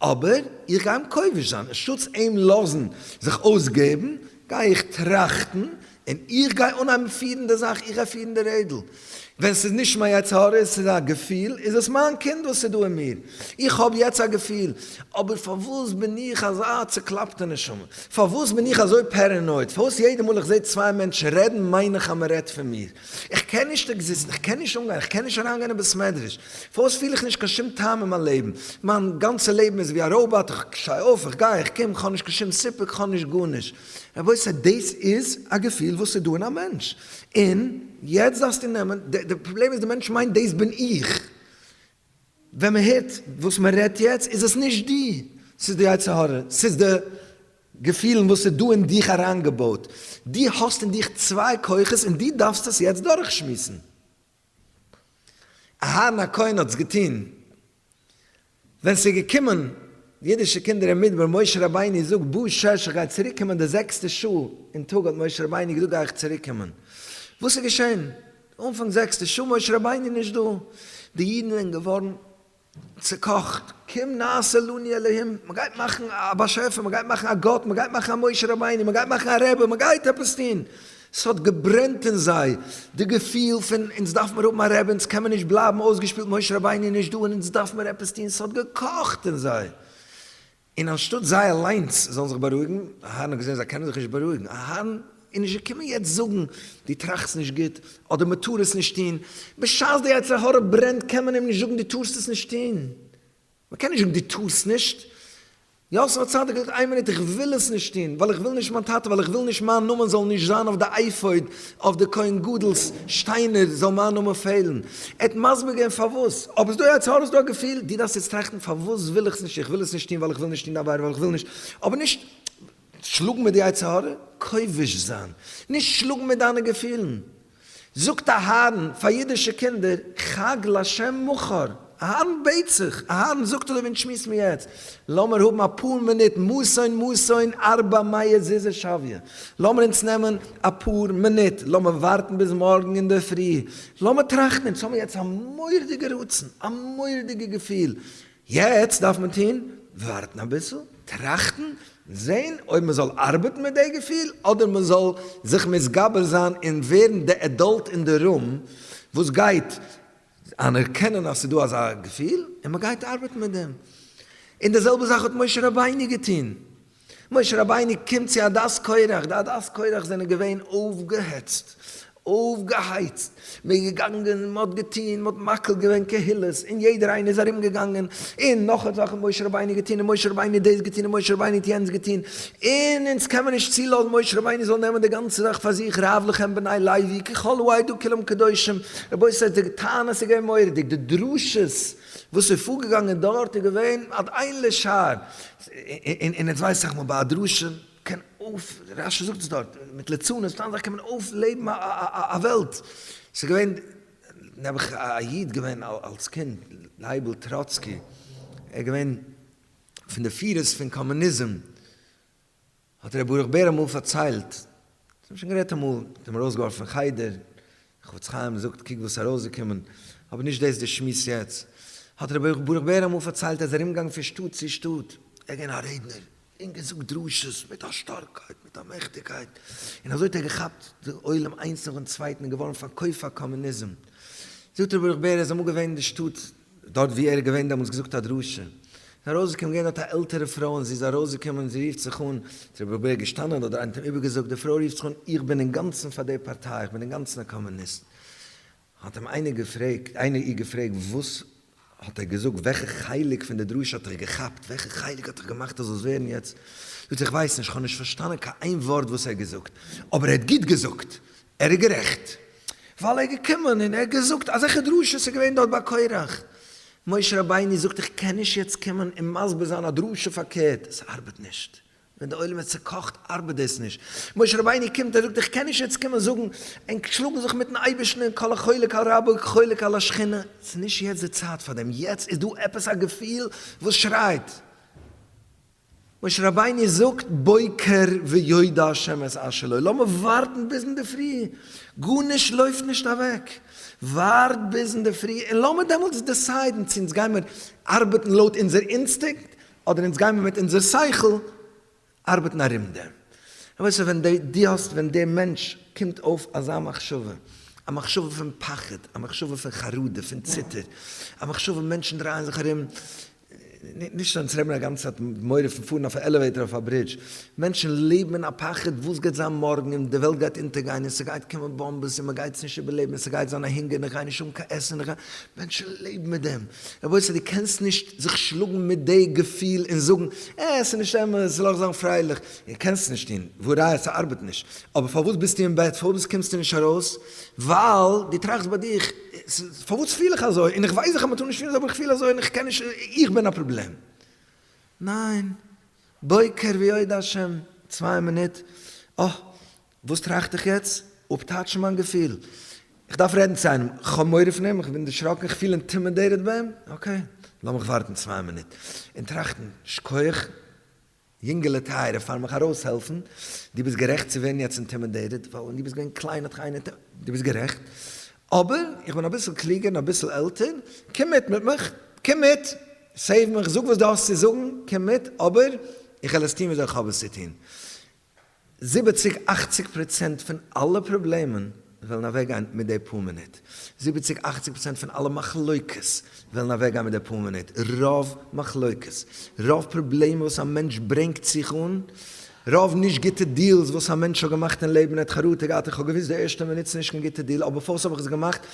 אבער איך גיי אים כובש זיין, אנשטאטס אים לאזן זיך אויסגעבן, גיי איך טראכטן, און איך גיי אנהייבן פירן די זאך, איך גיי פירן די רעדל. ווען ס'איז נישט מיין יצר הרע, עס איז א געפיל, איז עס מיין קינד וואס איז דא אין מיר. איך האב יעצט א געפיל, אבער פארוואס בין איך אזא צוקלאפטע נשמה? פארוואס בין איך אזוי פערענויד? פארוואס יעדע מאל איך זע צוויי מענטשן רעדן מיין איך אז מ'רעדט פון מיר? איך קען נישט עקזיסטן, איך קען נישט אנגיין, איך קען נישט אריינגיין אין בית מדרש, פארוואס פיל איך נישט קיין שום טעם אין מיין לעבן, מיין גאנצע לעבן איז ווי א ראובאט, איך שטיי אויף, איך גיי, איך קום, איך האב נישט קיין שום סיפוק, איך האב נישט גארנישט. רבותי, דאס איז א געפיל וואס איז דא אין א מענטש, און יעצט דארפסטו נעמען, די פראבלעם איז די מענטש מיינט דאס בין איך, ווען מען הערט וואס מען רעדט יעצט איז עס נישט דו, ס'איז די יצר הרע, ס'איז די געפילן וואס איז דא אין דיך אריינגעבויט, דו האסט אין דיך צוויי כוחות און דו דארפסט עס יעצט דורכשמועסן. אהרן הכהן האט עס געטון ווען ס'איז געקומען אידישע קינדער אין מדבר, משה רבינו זאגט בא שש איך גיי צוריק קומען די זעקסטע שעה אין טאג האט משה רבינו געזאגט גיי איך צוריק קומען, וואס איז געשען? אנפאנג זעקסטע שעה משה רבינו איז נישט דא, די אידן זענען געווארן צוקאכט, קום נעשה לנו אלהים, מען גייט מאכן א באשעפער, מען גייט מאכן א גאט, מען גייט מאכן א משה רבינו, מען גייט מאכן א רבי, מען גייט עפעס טון, עס האט געברענט אין זיי די געפיל פון אונז דארף מיר האבן א רבי, אונז קען מען נישט בלייבן אויסגעשפילט, משה רבינו איז נישט דא און אונז דארף מיר עפעס טון, עס האט געקאכט אין זיי, און אנשטאט זיי אליינס זאלן זיך בארואיגן, אהרן האט געזען אז זיי קענען זיך נישט בארואיגן, אהרן איז נישט געקומען יעצט זאגן דו טראכסט נישט גוט, אדער מען טאר עס נישט טון, בשעת די יצר הרע ברענט קען מען אים נישט זאגן דו טארסט עס נישט טון, מען קען נישט זאגן דו טארסט נישט, יוסף הצדיק האט געזאגט איין מינוט איך וויל עס נישט טון, ווייל איך וויל נישט מיין טאטע, ווייל איך וויל נישט מיין נאמען זאל נישט זיין אויף די אייפאוד, אויף די כהן גדול'ס שטיינער זאל מיין נאמען פעלן. ער האט מסביר געווען פארוואס. אויב איז דא א יצר הרע איז דא א געפיל. דו דארפסט יעצט טראכטן פארוואס וויל איך עס נישט. איך וויל עס נישט טון ווייל איך וויל נישט טון די עבירה ווייל איך וויל נישט. אבער נישט שלאגן מיט די יצר הרע. כובש זיין. נישט שלאגן מיט דיינע געפילן. זאגט אהרן פאר אידישע קינדער חג לשם מכר. אהרן בעט זיך, אהרן זאגט אדער ווען שמועסט מען יעצט, לאמיר האבן אפאר מינוט מסון מסון ארבע מאה זיזע שוויה, לאמיר אונז נעמען אפאר מינוט, לאמיר ווארטן ביז מארגן אינדערפרי, לאמיר טראכטן, אונז האבן יעצט א מורא'דיגע רצון, א מורא'דיגע געפיל, יעצט דארף מען טון, ווארטן אביסל, טראכטן, זען אויב מען זאל ארבעטן מיט די געפיל, אדער מען זאל זיך מתגבר זיין און ווערן די עדאלט אין די רום וואס גייט אנערקענען אז ס'איז דא אזא געפיל און מען גייט ארבעטן מיט דעם. און די זעלבע זאך האט משה רבינו געטון. משה רבינו קומט צו א דעת קורח, די א דעת קורח זענען געווען אויפגעהעצט, אויפגעהייצט, מען איז געגאנגען, מען האט געטון, מען האט מקיל געווען קהילות, און יעדער איינער איז ארום געגאנגען, און נאך זאכן משה רבינו געטון, און משה רבינו דאס געטון, און משה רבינו האט יענץ געטון, און אונז קען מען נישט צולאזן משה רבינו זאל נעמען די גאנצע זאך פאר זיך רב לכם בני לוי כי כל העדה כולם קדושים, רבותי די טענה איז געווען מורא'דיג, די דרשות וואס איז פארגעגאנגען דארט איז געווען עד אין לשער, און אונז ווייס איך מ ב ביי א דרשה קען אויף, רש י זאגט עס דארט, מיט ליצנות סתם זאך קען מען אויפלעבן א א וועלט, ס'איז געווען נעבעך א איד געווען אלס קינד לייבל טראצקי ער איז געווען. פון די פירות פון קאמוניזם האט ר' ברוך בער אמאל פארציילט, זיי האבן שוין גערעדט אמאל, מען האט אים ארויסגעווארפן פון חדר, חפץ חיים זאגט קוק וואס איז ארויסגעקומען, אבער נישט דאס די שמועס יעצט, האט ר' ברוך בער אמאל פארציילט אז ער איז ארומגעגאנגען פון שטאט צו שטאט, ער איז געווען א רעדנער, און געזאגט דרשות מיט א שטארקייט, מיט א מעכטיגקייט, און אזוי האט ער געכאפט די עולם איינס נאכן צווייטן און געווארן פארקויפט פאר קאמוניזם, זאגט ר' ברוך בער ער איז אמאל געווען אין די שטאט, דארט ווי ער איז געווען דעמאלטס געזאגט א דרשה, איז ארויסגעקומען געווען דארט א עלטערע פרוי און זי איז ארויסגעקומען זי רופט זיך אן, צו רבי אבאיא געשטאנען אדער איינער האט אים איבערגעזאגט, די פרוי רופט זיך אן איך בין אינגאנצן פאר די פארטיי איך בין אינגאנצן א קאמוניסט, האט אים איינער געפרעגט איינער איר געפרעגט וואס האט ער געזאגט וועלכע חלק פון די דרשה האט דיך געכאפט וועלכע חלק האט דיך געמאכט אז זאלסט ווערן יעצט זאגט זי איך ווייס נישט איך האב נישט פארשטאנען קיין איין ווארט וואס ער האט געזאגט אבער ער האט גוט געזאגט ער איז גערעכט ווייל ער איז געקומען און ער האט געזאגט אזעלכע דרשות איז געווען דארט ביי קרח. משה רבינו זאגט איך קען נישט יעצט קומען און מסביר זיין א דרשה פארקערט, עס ארבעט נישט. ווען די עולם איז צוקאכט ארבעט דאס נישט. משה רבינו קומט ער זאגט איך קען נישט יעצט קומען זאגן און שלאגן זיך מיטן אייבערשטן און כל החולק על רבו כחולק על השכינה, עס איז נישט יעצט די צייט פאר דעם, יעצט איז דא עפעס א געפיל וואס שרייט. משה רבינו זאגט בוקר ויודע השמש אשר לו, לאמיר ווארטן ביז אינדערפרי, גארנישט לויפט נישט אוועק, ווארט ביז אינדערפרי און לאמיר דעמאלטס דעסיידן צו אונז גיימיר ארבעטן לויט אונזער אינסטינקט אדער אונז גיימיר מיט אונזער שכל ארבעטן ארום דעם. רבותי ווען דו האסט ווען דער מענטש קומט אויף אזא מחשבה, א מחשבה פון פחד, א מחשבה פון חרדה, פון ציטער, א מחשבה מענטשן דרייען זיך ארום, נישט זיין צורעמען א גאנצע צייט מיט מורא פון פארן אויף א עלעוועיטאר אויף א ברידזש, מענטשן לעבן אין א פחד וואס גייט זיין מארגן און די וועלט גייט אונטערגיין און ס'גייט קומען באמבעס און מ'גייט עס נישט איבערלעבן און ס'גייט זיין א הונגער און איך גיי נישט האבן קיין עסן און איך גיי, מענטשן לעבן מיט דעם, רבותי דו קענסט נישט זיך שלאגן מיט די געפיל און זאגן אה עס איז נישט אמת לאך זיין פרייליך, דו קענסט עס נישט טון, והא ראיה ס'ארבעט נישט, אבער פארוואס ביסטו אין בעט פארוואס קומסטו נישט ארויס? ווייל דו טראכסט ביי דיך. פארוואס פיל איך אזוי, און איך ווייס איך מטאר נישט פילן אזוי אבער איך פיל אזוי און איך קען נישט, איך בין א פראבלעם. ניין. בוקר ויודע השם, צוויי מינוט, אה, וואס טראכט איך יעצט? אפטייטשן מיין געפיל. איך דארף רעדן צו איינעם, איך האב מורא פון אים, איך בין דערשראקן, איך פיל אינטימידעיטעד ביי אים, אקעי, לאמיך ווארטן צוויי מינוט און טראכטן, שקויעך, יונגעלע טייערע פאר מיך ארויסהעלפן, דו ביסט גערעכט צו ווערן יעצט אינטימידעיטעד, ווייל ווען דו ביסט געווען קליין האט קיינער ט. דו ביסט גערעכט, אבער איך בין אביסל קלוגער און אביסל עלטער, קום מיט מיט מיך, קום מיט, סעיוו מיך, זאג וואס דו האסט צו זאגן, קום מיט, אבער איך העל עס טון וויאזוי איך האב עס צו טון. זיבעציג אכציג פראצענט פון אלע פראבלעמען וועלן אוועקגיין מיט די פאר מינוט, זיבעציג אכציג פראצענט פון אלע מחלוקות וועלן אוועקגיין מיט די פאר מינוט, רוב מחלוקות, רוב פראבלעמען וואס א מענטש ברענגט זיך אן, רוב נישט גוטע דיעלס וואס א מענטש האט געמאכט אין לעבן, ער האט חרטה געהאט איך האב געוואוסט די ערשטע מינוט ס'איז נישט קיין גוטע דיעל אבער פארס האב איך עס געמאכט,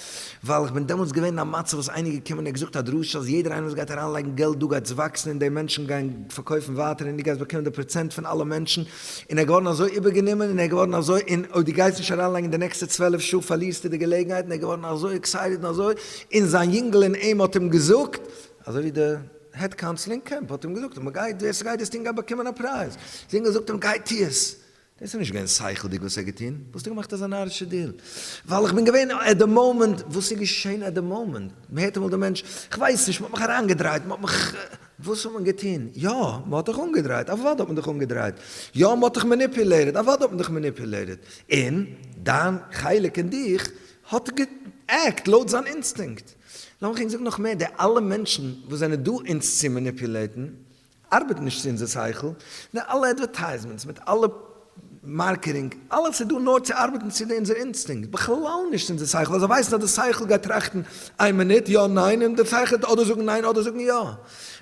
ווייל איך בין דעמאלטס געווען אין א מצב וואס איינער איז געקומען און ער האט געזאגט א דרשה אז יעדער איינער וואס גייט אריינלייגן געלט דא גייטס וואקסן און די מענטשן גייען פארקויפן ווייטער און דו גייסט באקומען די פראצענט פון אלע מענטשן און ער איז געווארן אזוי איבערגענומען און ער איז געווארן אזוי און אויב דו גייסט נישט אריינלייגן די נעקסטע צוועלף שעה פארלירסטו די געלעגנהייט און ער איז געווארן אזוי עקסייטעד און אזוי און זיין יונגל אין אים האט אים געזאגט אזוי ווי די העד קאונסל אין קעמפ האט אים געזאגט אז מען גייט ווער ס'גייט דאס טון גייט באקומען א פרייז זינגער זאגט אים גיי טו עס דאס איז נישט געווען שכל'דיג וואס ער האט געטון, וואלסטו געמאכט אזא נארישע דיל? ווייל איך בין געווען עט די מאמענט, וואס איז געשען עט די מאמענט? מען הערט אמאל די מענטש, כ'ווייס נישט, מ'האט מיך אריינגעדרייט, מ'האט מיך, וואס האט מען געטון? יא, מ'האט דיך אנגעדרייט, אוודאי האט מען דיך אנגעדרייט, יא, מ'האט דיך מעניפולעיטעד, אוודאי האט מען דיך מעניפולעיטעד, און דיין חלק אין דיך האט גע'עקט לויט זיין אינסטינקט. לאמיך ענק זאגן נאך מער, די אלע מענטשן וואס זענען דא אונז צו מעניפולעיטן, ארבעט נישט צו אונזער שכל, די אלע אדווערטייזמענטס מיט אלע מארקעטינג, אלעס איז דא נאר צו ארבעטן צו די אונזער אינסטינקט, בכלל נישט צו אונזער שכל, ווייל זיי ווייסן אז די שכל גייט טראכטן איין מינוט יא ניין און די שכל וועט אדער זאגן ניין אדער זאגן יא.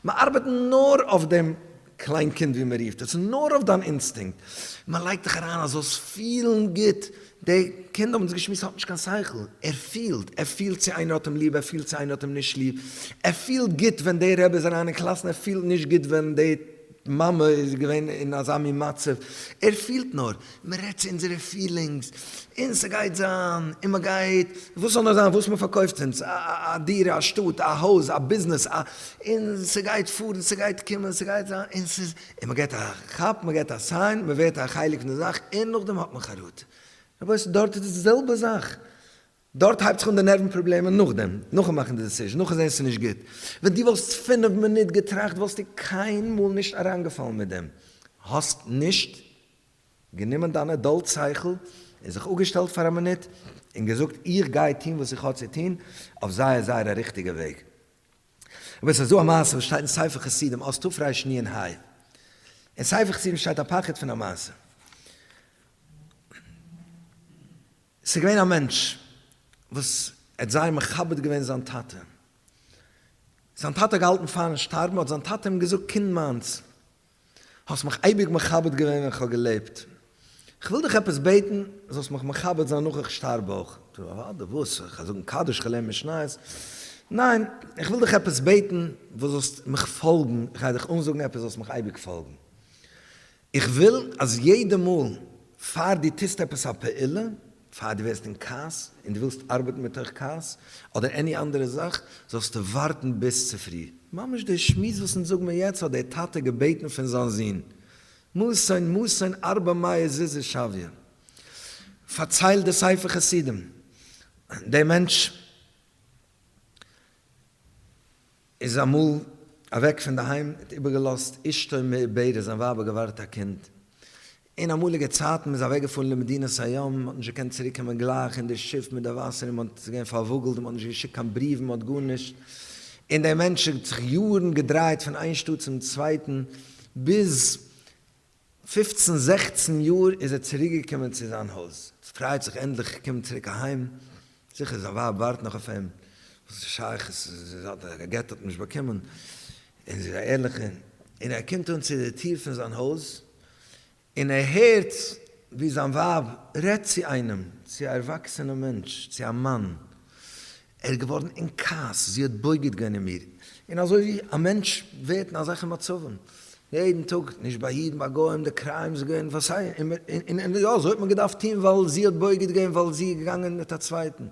מען ארבעט נאר אויף דעם קליין קינד ווי מען רופט עס, נאר אויף דיין אינסטינקט, מען לייגט דיך אריין אז זאלסט פילן גוט, דער קינד האבן זיי געשמועסט האט נישט קיין שכל, ער פילט, ער פילט צו איינער האט אים ליב, ער פילט צו איינער האט אים נישט ליב, ער פילט גוט ווען דער רבי איז אריין אין קלאס און ער פילט נישט גוט ווען די מאמע איז געווען אין אזא מין מצב, ער פילט נאר, מען רעדט צו אונזערע פילינגס, און ס'גייט זיין, און מען גייט, וואס זאל נאר זיין, וואס מען פארקויפט אונז, א דירה, א שטאט, א הויז, א ביזנעס, א, און ס'גייט פארן, ס'גייט קומען, ס'גייט זיין, און ס'איז. און מען געט א כאפ, מען געט א סיין, מען ווערט א חלק פון די זאך, און נאכדעם האט מען חרטה. רבותי, דארט איז די זעלבע זאך. דארט הייבט זיך אן די נערוון פראבלעמען נאכדעם, נאכן מאכן די דעסיזשן, נאכן זען עס איז נישט גוט. ווען דו וואלסט פינף מינוט געטראכט וואלסטו קיינמאל נישט אריינגעפאלן מיט דעם. האסט נישט גענומען דיין עדאלט שכל און זיך אפגעשטעלט פאר א מינוט און געזאגט איך גיי טון וואס איך האב צו טון אויף זייער זייער א ריכטיגע וועג. רבותי סאיז דא א מעשה וואס שטייט אין ספר חסידים אות תרש ני ענ ה, אין ספר חסידים שטייט א פחד פון א מעשה, סאיז געווען א מענטש וואס ער האט זייער מכבד געווען זיין טאטע, זיין טאטע האט געהאלטן פארן שטארבן האט זיין טאטע אים געזאגט קינד מיינס האסט מיך אייביג מכבד געווען ווען כ'האב געלעבט, כ'וויל דיך עפעס בעטן זאלסט מיך מכבד זיין נאך איך שטארב אויך. טו אוודאי, וואס? כ'גיי זאגן קדיש, כ'לערן משניות? ניין, כ'וויל דיך עפעס בעטן וואס זאלסט מיך פאלגן, כ'גיי דיך אנזאגן עפעס זאלסט מיך אייביג פאלגן. איך וויל אז יעדע מאל פאר דו טוסט עפעס א פעולה, פאר דו ווערסט אין כעס און דו ווילסט ארבעטן מתוך כעס אדער עני אנדערע זאך, זאלסטו ווארטן ביז צופרי. ממש דער שמועס וואס אונז זאגן מיר יעצט האט דער טאטע געבעטן פון זיין זון, מאסען מאסען ארבע מאה זוזי שביה, פארציילט דער ספר חסידים, דער מענטש. איז אמאל אוועק פון די היים האט איבערגעלאזט אשתו מעוברת זיין ווייב האט געווארט א קינד אין אמאליגע צייטן מען איז אוועק געפארן למדינת הים מען האט נישט געקענט צוריק קומען גלייך אין די שיף מיט די וואסער אין מען האט עס געווען פארוואגעלט אין מען האט נישט געשיקט קיין בריוון מען האט גארנישט אין די מענטש האט זיך יארן געדרייט פון איין שטאט צום צווייטן ביז פופצן זעכצן יאר איז ער צוריק געקומען צו זיין הויז, ס'פרייט זיך ענדליך געקומען צוריק אהיים, זיכער זיין ווייב ווארט נאך אויף אים, וואס איז שייך עס איז זיי האט א גט האט נישט באקומען, און זי איז א ערליכע, און ער קומט אן צו די טיר פון זיין הויז, און ער הערט ווי זיין ווייב רעדט צו איינעם, צו א ערוואקסענע מענטש, צו א מאן, ער איז געווארן אין כעס, זי האט בוגד געווען אין מיר, און אזוי ווי א מענטש ווערט אין אזעלכע מצבים יעדן טאג, נישט ביי אידן, ביי גוים, די קריים איז געווען וואס סיי, און יא, אזוי האט מען געדארפט טון ווייל זי האט בוגד געווען ווייל זי איז געגאנגען מיט א צווייטן.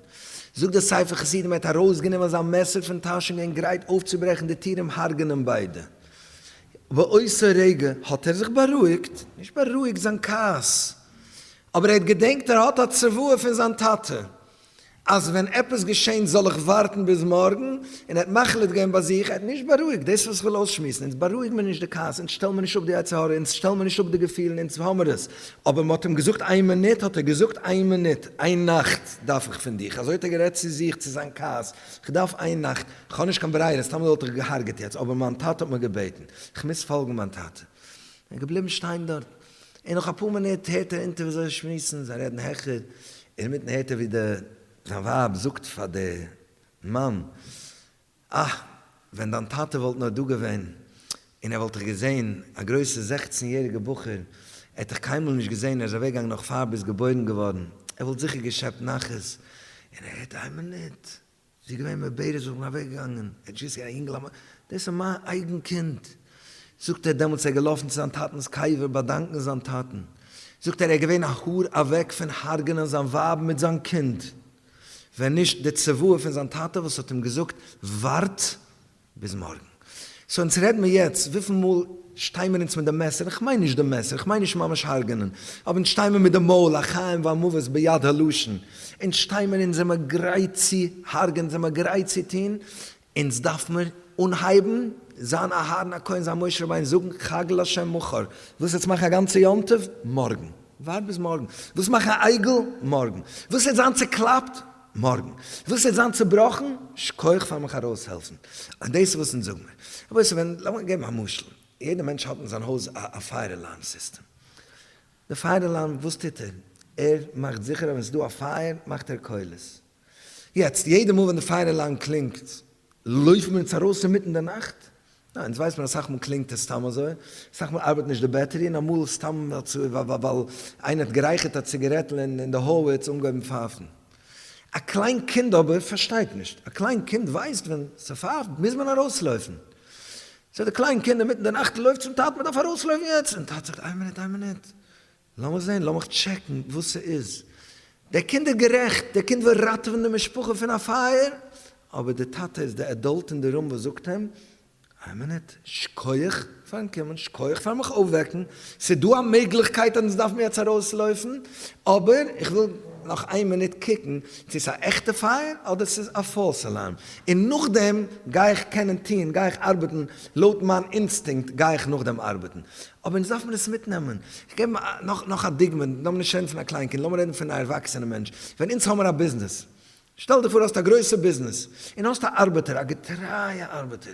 זאגט דער ספר חסידים, ער האט ארויסגענומען זיין מעסער פון טאש און געווען גרייט אויפצוברעכן די טיר און הרג'נען ביידע. באותו רגע האט ער זיך בארואיגט, נישט בארואיגט זיין כעס, אבער ער האט געדענקט ער האט א צוואה פון זיין טאטע, אז ווען עפעס געשענט זאל איך ווארטן ביז מארגן, און ער האט מחליט געווען ביי זיך, ער האט נישט בארואיגט, דאס איז וואס איך וויל אויסשמועסן, אונז בארואיגן מיר נישט די כעס, אונז שטעלן מיר נישט אפ די יצר הרע, אונז שטעלן מיר נישט אפ די געפילן, אונז האמיר עס, אבער מען האט אים געזאגט איין מינוט, האט ער געזאגט איין מינוט, איין נאכט דארף איך פון דיך, אזוי האט ער גערעדט צו זיך, צו זיין כעס, איך דארף איין נאכט, איך האב נישט קיין ברירה, סתם וואלט איך געהארגעט יעצט, אבער מיין טאטע האט מיר געבעטן, איך מוז פאלגן מיין טאטע, און ער איז געבליבן שטיין דארט. און נאך אפאר מינוט הערט ער אונטער ווי זיי שמועסן, זיי רעדן העכער, אינמיטן הערט ער ווי די זיין ווייב זאגט פאר די מאן, אה, ווען דיין טאטע וואלט נאר דא געווען, און ער וואלט דיך געזען, א גרויסע זעכצן יעריגע בחור, ער האט דיך קיינמאל נישט געזען, ער איז אוועק געגאנגען נאך פאר ביסט געבוירן געווארן, ער וואלט זיכער געשעפט נחת, און ער הערט איין מינוט, זי איז געווען מבער זיך און אוועקגעגאנגען, ער האט ג'געוויסט זי איז א יונגל א, דאס איז מיין אייגן קינד, זאגט ער, דעמאלטס איז ער געלאפן צו זיין טאטנ'ס קבר באדאנקען זיין טאטן, זאגט ער, ער איז געווען א האר אוועק פון הרג'נען זיין ווייב מיט זיין קינד, ווען נישט די צוואה פון זיין טאטע וואס האט אים געזאגט ווארט ביז מארגן. סאו אונז רעד מיר יעצט וויפיל מאל שטיי מיר אונז מיט די מעסער, איך מיין נישט די מעסער, איך מיין נישט ממש הרג'נען, אבער אונז שטיי מיר מיט די מויל, החיים והמוות ביד הלשון, אונז שטיי מיר אונז זעמער גרייט צו הרג'ען, זעמער גרייט צו טון, אונז דארף מיר אנהייבן זיין אהרן הכהן זיין משה רבינו, זאגן חג להשם מחר, ווילסט יעצט מאכן א גאנצע יום טוב? מארגן. ווארט ביז מארגן. ווילסט מאכן א עגל? מארגן. ווילסט יעצט זיין צוקלאפט? מארגן. איך וויל ס'זאל זיין צובראכן, שכוח פאר מיך ארויסהעלפן. אט דאס איז וואס אונז זאג מיר. רבותי ווען, לאמיר געבן א משל. יעדע מענטש האט אין זיין הויז א פייער אלארם סיסטעם. די פייער אלארם וואס טוט ער? ער מאכט זיכער אז ווען ס'איז דא א פייער מאכט ער קולות. יעצט, יעדע מאל ווען די פייער אלארם קלינגט, לויפן מיר אונז ארויס אינמיטן די נאכט? ניין, דאס ווייסט מען אסאך מאל קלינגט עס סתם אזוי, אסאך מאל ארבעט נישט די בעטערי, און אמאל סתם ווייל איינער האט גערייכערט א ציגערעטל און אין די האלוויץ אנגעהויבן פייפן. א קליין קינד אבער פארשטייט נישט, א קליין קינד ווייסט ווען ס'פייפט מוז מען ארויסלויפן, סאו די קליין קינד אינמיטן די נאכט לויפט צום טאטן מ'דארף ארויסלויפן יעצט, און טאטע זאגט איין מינוט איין מינוט, לאמיר זען, לאמיך טשעקן וואס ס'איז. דער קינד איז גערעכט, דער קינד וויל ראטעווען די משפחה פון א פייער, אבער דער טאטע איז די עדאלט אין די רום וואס זאגט אים, איין מינוט, שכוח פארן קומען, שכוח פארן מיך אויפוועקן, ס'איז דא א מעגליכקייט אז אונז דארפן יעצט ארויסלויפן, אבער איך וויל נאך איין מינוט קוקן צו ס'איז א עכטע פייער אדער ס'איז א פאלס אלארם, און נאכדעם גיי איך קענען טון, גיי איך ארבעטן לויט מיין אינסטינקט, גיי איך נאכדעם ארבעטן. אבער אונז דארף מען עס מיטנעמען. איך געב נאך א דוגמא, לאמיר נישט רעדן פון א קליין קינד, לאמיר רעדן פון א ערוואקסענע מענטש. ווען אונז האמיר א ביזנעס, שטעל דיך פאר האסט א גרויסע ביזנעס, און האסט א ארבעטער, א געטרייע ארבעטער,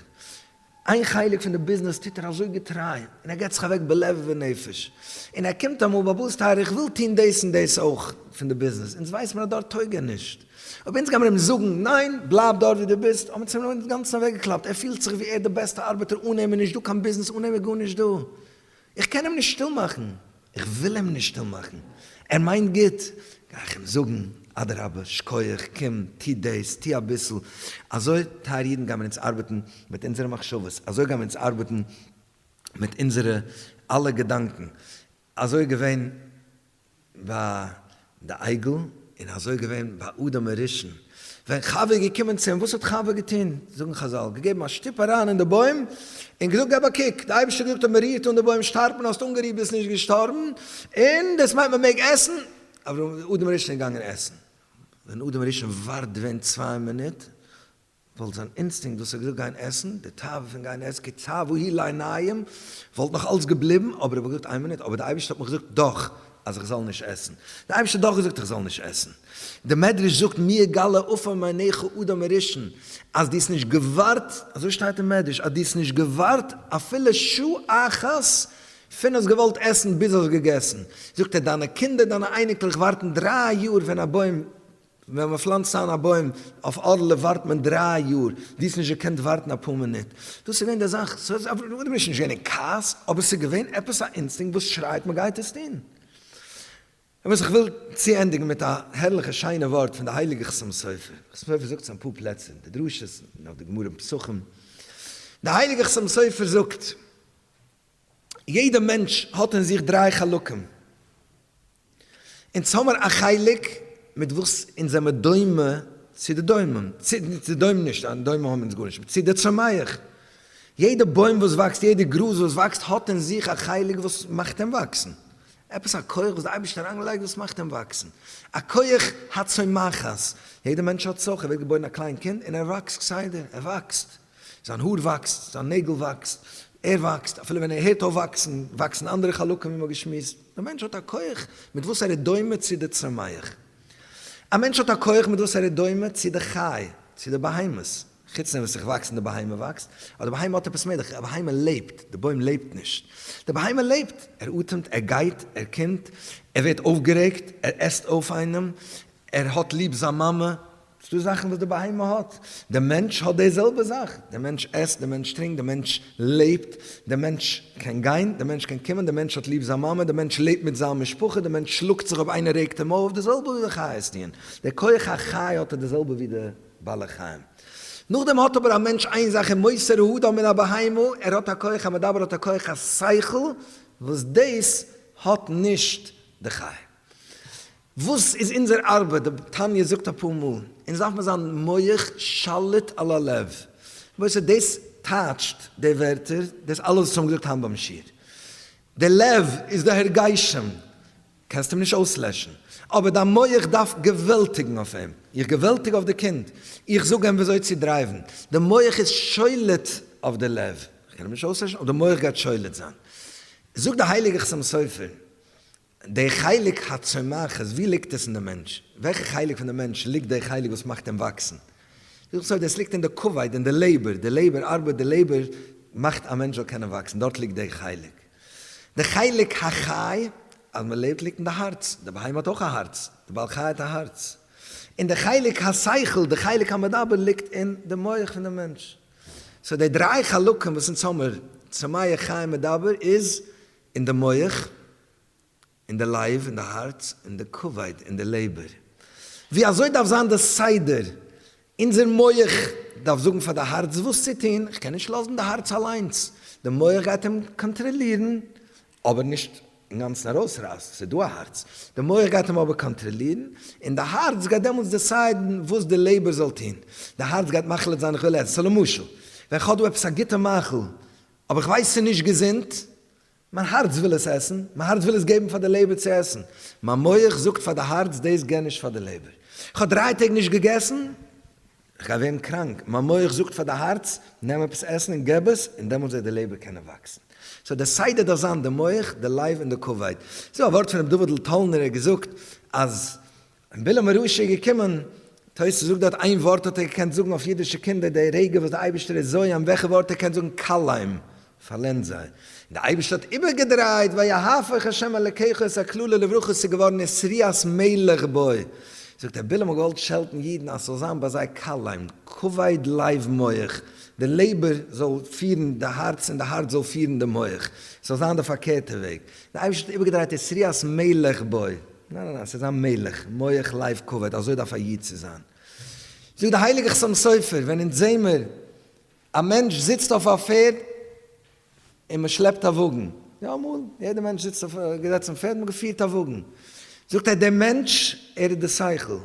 איין חלק פון די ביזנעס טוט ער אזוי געטריי, און ער געבט זיך אוועק בלב ובנפש, און ער קומט אמאל, באבא'ס טייערע איך וויל טון דאס און דאס אויך פון די ביזנעס, אונז ווייסט מען אז דארט טויג ער נישט. אויב אונז גיימער אים זאגן ניין בלייב דארט ווי דו ביסט, האבן צום רבי'ן אינגאנצן אוועקגעקלאפט, ער פילט זיך ווי ער איז די בעסטע ארבעטער אן אים איז נישט דא קיין ביזנעס אן אים איז גארנישט דא, איך קען אים נישט שטיל מאכן, איך וויל אים נישט שטיל מאכן, ער מיינט גוט, גיי איך אים זאגן, אדרבה, שקויעך, קום, טו דאס, טו אביסל, אזוי טייערע אידן גיימער אונז ארבעטן מיט אונזערע מחשבות, אזוי גיימער אונז ארבעטן מיט אונזערע אלע געדאנקען, אזוי איז געווען ביי די עגל, און אזוי איז געווען ביי אדם הראשון, ווען חווה איז געקומען צו אים, וואס האט חווה געטון? זאגן חזל, געגעבן א שטופ אריין אין די בוים, און געזאגט געב א קוק, די אייבערשטער האט געזאגט אז מען רירט אן די בוים שטארבט מען, האסט אנגערירט ביסט נישט געשטארבן, און דאס מיינט מען מעג עסן, אברהם, אדם הראשון איז געגאנגען עסן, ווען אדם הראשון ווארט ווען צוויי מינוט, וואלט זיין אינסטינקט וואס האט געזאגט גיין עסן, די תאווה פון גיין עסן, כי צוו היא לעיניים, וואלט נאך אלס געבליבן, אבער ער וואלט געזאגט איין מינוט, אבער די אייבערשטער האט מיך געזאגט דאך אז איך זאל נישט עסן, די אייבערשטער האט דאך געזאגט איך זאל נישט עסן, די מדרש זאגט מי יגלה אפי' מעיניך אדם הראשון, אז דו האסט נישט געווארט, אזוי שטייט אין מדרש, אז דו האסט נישט געווארט אפילו שעה אחת פון האסט געוואלט עסן ביז האסט געגעסן, זאגט ער דיינע קינדער דיינע אייניקלעך ווארטן דריי יאר ווען א בוים ווען מען פלאנצט איין א בוים אויף אדעלע ווארט מען דריי יאר, דו האסט נישט געקענט ווארטן אפאר מינוט, דאס איז געווען די זאך, ס'האט זיך אפגעשפילט, דו ביסט נישט געווען אין כעס, אבער ס'איז געווען עפעס א אינסטינקט וואס שרייט מען גייט עס טון. אמת איך וויל צוענדיגן מיט א הערליכע שיינע ווארט פון די הייליגע חתם סופר, חתם סופר זאגט עס אין אפאר פלעצער אין די דרשות און אויף די גמרא און פסחים, די הייליגע חתם סופר זאגט, יעדע מענטש האט אין זיך דריי חלקים, אונז האמער א חלק מיט וואס אונז זעמער דומה צו די דומם, צו די דומם נישט, א דומם האמער אונז גארנישט, צו די צומח. יעדע בוים וואס וואקסט, יעדע גראז וואס וואקסט האט אין זיך א חלק וואס מאכט אים וואקסן. עפעס א כח וואס די אייבערשטער האט אריינגעלייגט וואס מאכט אים וואקסן. א כח הצומחת. יעדע מענטש האט סך, ער ווערט געבוירן א קליין קינד און ער וואקסט כסדר, ער וואקסט. זיין האר וואקסט, זיין נעגל וואקסט, ער וואקסט, אפילו ווען ער הערט אויף וואקסן, וואקסן אנדערע חלקים ווי מ'האט געשמועסט. דער מענטש האט א כח מיט וואס ער איז דומה צו די צומח. א מענטש האט א כח מיט וואס ער איז דומה צו די חי, צו די בהמות. חוץ דעם וואס איך וואקס און די בהמה וואקסט, אבער די בהמה האט עפעס מער, די בהמה לעבט, די בוים לעבט נישט. די בהמה לעבט, ער אטעמט, ער גייט, ער קומט, ער ווערט אויפגערעגט, ער עסט אויף איינעם, ער האט ליב זיין מאמע, ס'דא זאכן וואס די בהמה האט, די מענטש האט די זעלבע זאך, די מענטש עסט, די מענטש טרינקט, די מענטש לעבט, די מענטש קען גיין, די מענטש קען קומען, די מענטש האט ליב זיין מאמע, די מענטש לעבט מיט זיין משפחה, די מענטש שלאגט זיך אויב איינער רעגט אים אויף, די זעלבע ווי די חיות טוען, די כח החי האט ער די זעלבע ווי די בעלי חיים. נאכדעם האט אבער א מענטש איין זאך אין מוסר האדם מן הבהמה, ער האט א כח המדבר, ער האט א כח השכל, וואס דאס האט נישט די חי. וואס איז אונזער ארבעט? די תניא זאגט אפאר מאל, אונז דארף מיר זיין מח שליט על הלב. למעשה דאס טייטשט די ווערטער, דאס אלעס וואס מיר האבן געזאגט היינט ביים שיעור. די לב איז די הרגשים, קענסט אים נישט אויסלעשן, אבער דיין מח דארף געוועלטיגן אויף אים. איך געוועלטיג אויף די קינד, איך זאג אים וויאזוי צו דרייוון, די מח איז שליט אויף די לב, איך קען אים נישט אויסלעשן, אבער די מח גייט שליט זיין. זאגט די הייליגער חתם סופר, דער חלק הצומח איז ווי ליגט עס אין די מענטש? וועלכע חלק פון די מענטש ליגט דער חלק וואס מאכט אים וואקסן? זאגט סוד עס ליגט אין די כבד אין די לעבער, די לעבער ארבעט די לעבער מאכט א מענטש זאל קענען וואקסן דארט ליגט דער חלק. די חלק החי אז מען לעבט ליגט אין די הארץ, די בהמה האט אויך א הארץ, די בעל חי האט א הארץ. און די חלק השכל די חלק המדבר ליגט אין די מח פון די מענטש. סאו די דריי חלקים וואס אונז האמער צומח חי מדבר איז. אין די מח, אין די לייב, אין די הארץ, אין די כבד, אין די לעבער. ווי אזוי דארף זיין די סדר, אונזער מח דארף זאגן פאר די הארץ וואס צו טון, כ'קען נישט לאזן די הארץ אליינס, די מח גייט אים קאנטראלירן, אבער נישט אינגאנצן ארויסרייסן, ס'איז דא א הארץ, די מח גייט אים אבער קאנטראלירן, און די הארץ גייט דעמאלטס דעסיידן וואס די לעבער זאל טון, די הארץ גייט מחליט זיין איך וויל עסן, סא למשל ווען כ'האב דא עפעס א גוטע מאכל, אבער איך ווייס ס'איז נישט געזונט, מיין הארץ וויל עס עסן, מיין הארץ וויל עס געבן פאר די לעבער צו עסן, מיין מח זאגט פאר די הארץ דאס גיב נישט פאר די לעבער, איך האב דריי טעג נישט געגעסן, איך גיי ווערן קראנק, מיין מח זאגט פאר די הארץ נעם עפעס עסן און געב עס, און דעמאלטס וועט די לעבער קענען וואקסן. סאו די סדר דארף זיין די מח, די לייב און די כבד. ס'איז דא א ווארט פון ר' דוד אלטאלנער, ער האט געזאגט אז און בלעם הרשע איז געקומען, תוס' זאגט דארט, איין ווארט האט ער געקענט זאגן אויף אידישע קינדער, די רגע וואס די אייבישטער איז זוי' אים, וועלכע ווארט ער קען זאגן, קלעים, פארלענד זיי, און די אייבישטער האט איבערגעדרייט, ויהפך השם אלקיך את הקללה לברכה, ס'איז געווארן איז שריעת מלך בוי, זאגט ער, בלעם האט געוואלט שעלטן אידן אז ס'זאל זיין ביי זיי קלעים, כבד לב מח, די לעבער זאל פירן די הארץ און די הארץ זאל פירן די מח, ס'זאל זיין די פארקערטע וועג, די אייבישטער האט איבערגעדרייט איז שריעת מלך בוי. ניין ניין ניין, ס'איז א מלך, מוח לב כבד, אזוי דארף א איד צו זיין. זאגט דער הייליגער חתם סופר, ווען אונז זעהן מיר א מענטש זיצט אויף א פערד און מען שלעפט א וואגן, יא אמאל, יעדער מענטש זיצט אויף, געזעצן אויף פערד, מען האט געפירט א וואגן, זאגט ער דער מענטש ער איז די שכל,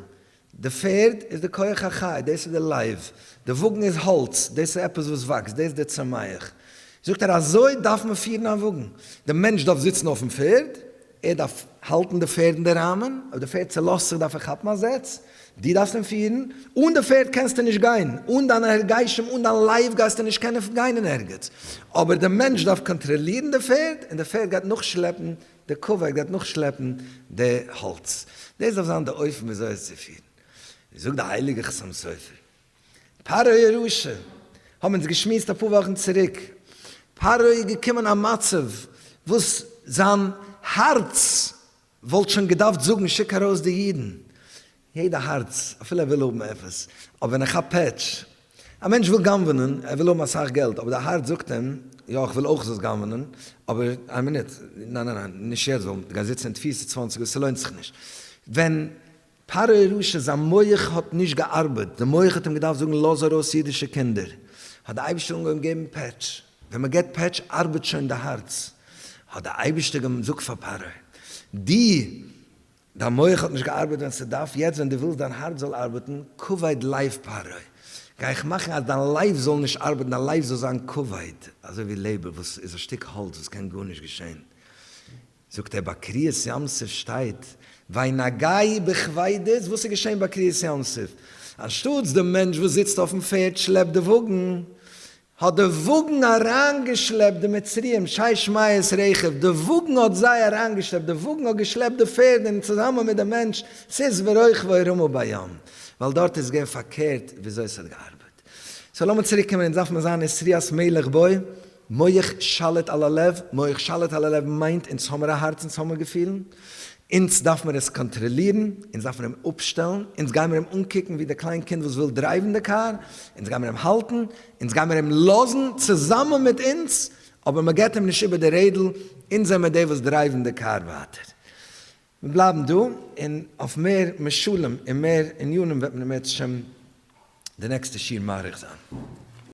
די פערד איז די כח החי, דאס איז די לייב, די וואגן איז האלץ, דאס איז עפעס וואס וואקסט, דאס איז די צומח. זאגט ער, אזוי דארף מען פירן א וואגן, די מענטש דארף זיצן אויפן פערד, ער דארף האלטן די פערד אין די ראמען, אויב די פערד צעלאזט זיך דארף ער כאפן א זעץ, דו דארפסט אים פירן, אן די פערד קענסטו נישט גיין, אן דיינע הרגשים, אן דיין לייב גייסטו נישט קענען גיין אין ערגעץ, אבער די מענטש דארף קאנטראלירן די פערד און די פערד גייט נאכשלעפן דער קאוועק דארף נאכשלעפן די האלץ, דאס דארף זיין די אופן וויאזוי עס צו פירן. ווי זאגט די הייליגע חתם סופר, פרעה הרשע, האבן אונז געשמועסט אפאר וואכן צוריק, פרעה איז געקומען אין א מצב וואס זיין הארץ וואלט שוין געדארפט זאגן שיק ארויס די אידן, יעדע הארץ, אפילו ער וויל האבן עפעס, אבער ווען ער כאפט פעטש. א מענטש וויל גנב'נען, ער וויל האבן אסאך געלט, אבער די הארץ זאגט אים, יא איך וויל אויך זאלסט גנב'נען, אבער איין מינוט, ניין ניין ניין, נישט יעצט, ווייל מ'גייט זיצן אין תפיסה צוואַנציק יאר, ס'לוינט זיך נישט. ווען פרעה רשע זיין מח האט נישט געארבעט, די מח האט אים געדארפט זאגן לאז ארויס אידישע קינדער, האט די אייבישטער אנגעהויבן געבן פעטש. ווען מ'געט פעטש ארבעט שוין די הארץ. האט די אייבישטער געזאגט פאר פרעה, דו דיין מח האט נישט געארבעט ווען ס'דארף, יעצט ווען דו ווילסט דיין הארץ זאל ארבעטן, כבוד לב פרעה, גיי איך מאכן אז דיין לב זאל נישט ארבעטן, דיין לב זאל זיין כבוד, אזוי ווי לעבער וואס איז א שטיק האלץ וואס קען גארנישט געשען. זאגט ער ביי קריעת ים סוף שטייט וינגעי בכבידות, וואס איז געשען ביי קריעת ים סוף? אנשטאטס די מענטש וואס זיצט אויפן פערד שלעפט די וואגן, האט די וואגן אריינגעשלעפט די מצריים, שי שמעיה'ס רכב, די וואגן האט זיי אריינגעשלעפט, די וואגן האט געשלעפט די פערד און צוזאמען מיט די מענטש, סוס ורוכבו רמו בים, ווייל דארט איז געווען פארקערט וויאזוי ס'האט געארבעט. סאו לאמיר צוריק קומען, אונז דארף מען זיין אין שריית מלך בוי, מח שליט על הלב, מח שליט על הלב מיינט אונז האמיר א הארץ אונז האמיר געפילן, אונז דארף מיר עס קאנטראלירן, אונז דארף מיר אים אפשטעלן, אונז גיימיר אים אנקוקן ווי די קליין קינד וואס וויל דרייוון די קאר, אונז גיימיר אים האלטן, אונז גיימיר אים לאזן צוזאמען מיט אונז, אבער מען געט אים נישט איבער די רעדל, אונז זעמיר די וואס דרייוון די קאר ווייטער. מיר בלייבן דא, און אויף מער משלים און מער ענינים וועט מען בעזהשם די נעקסטע שיעור מאריך זיין.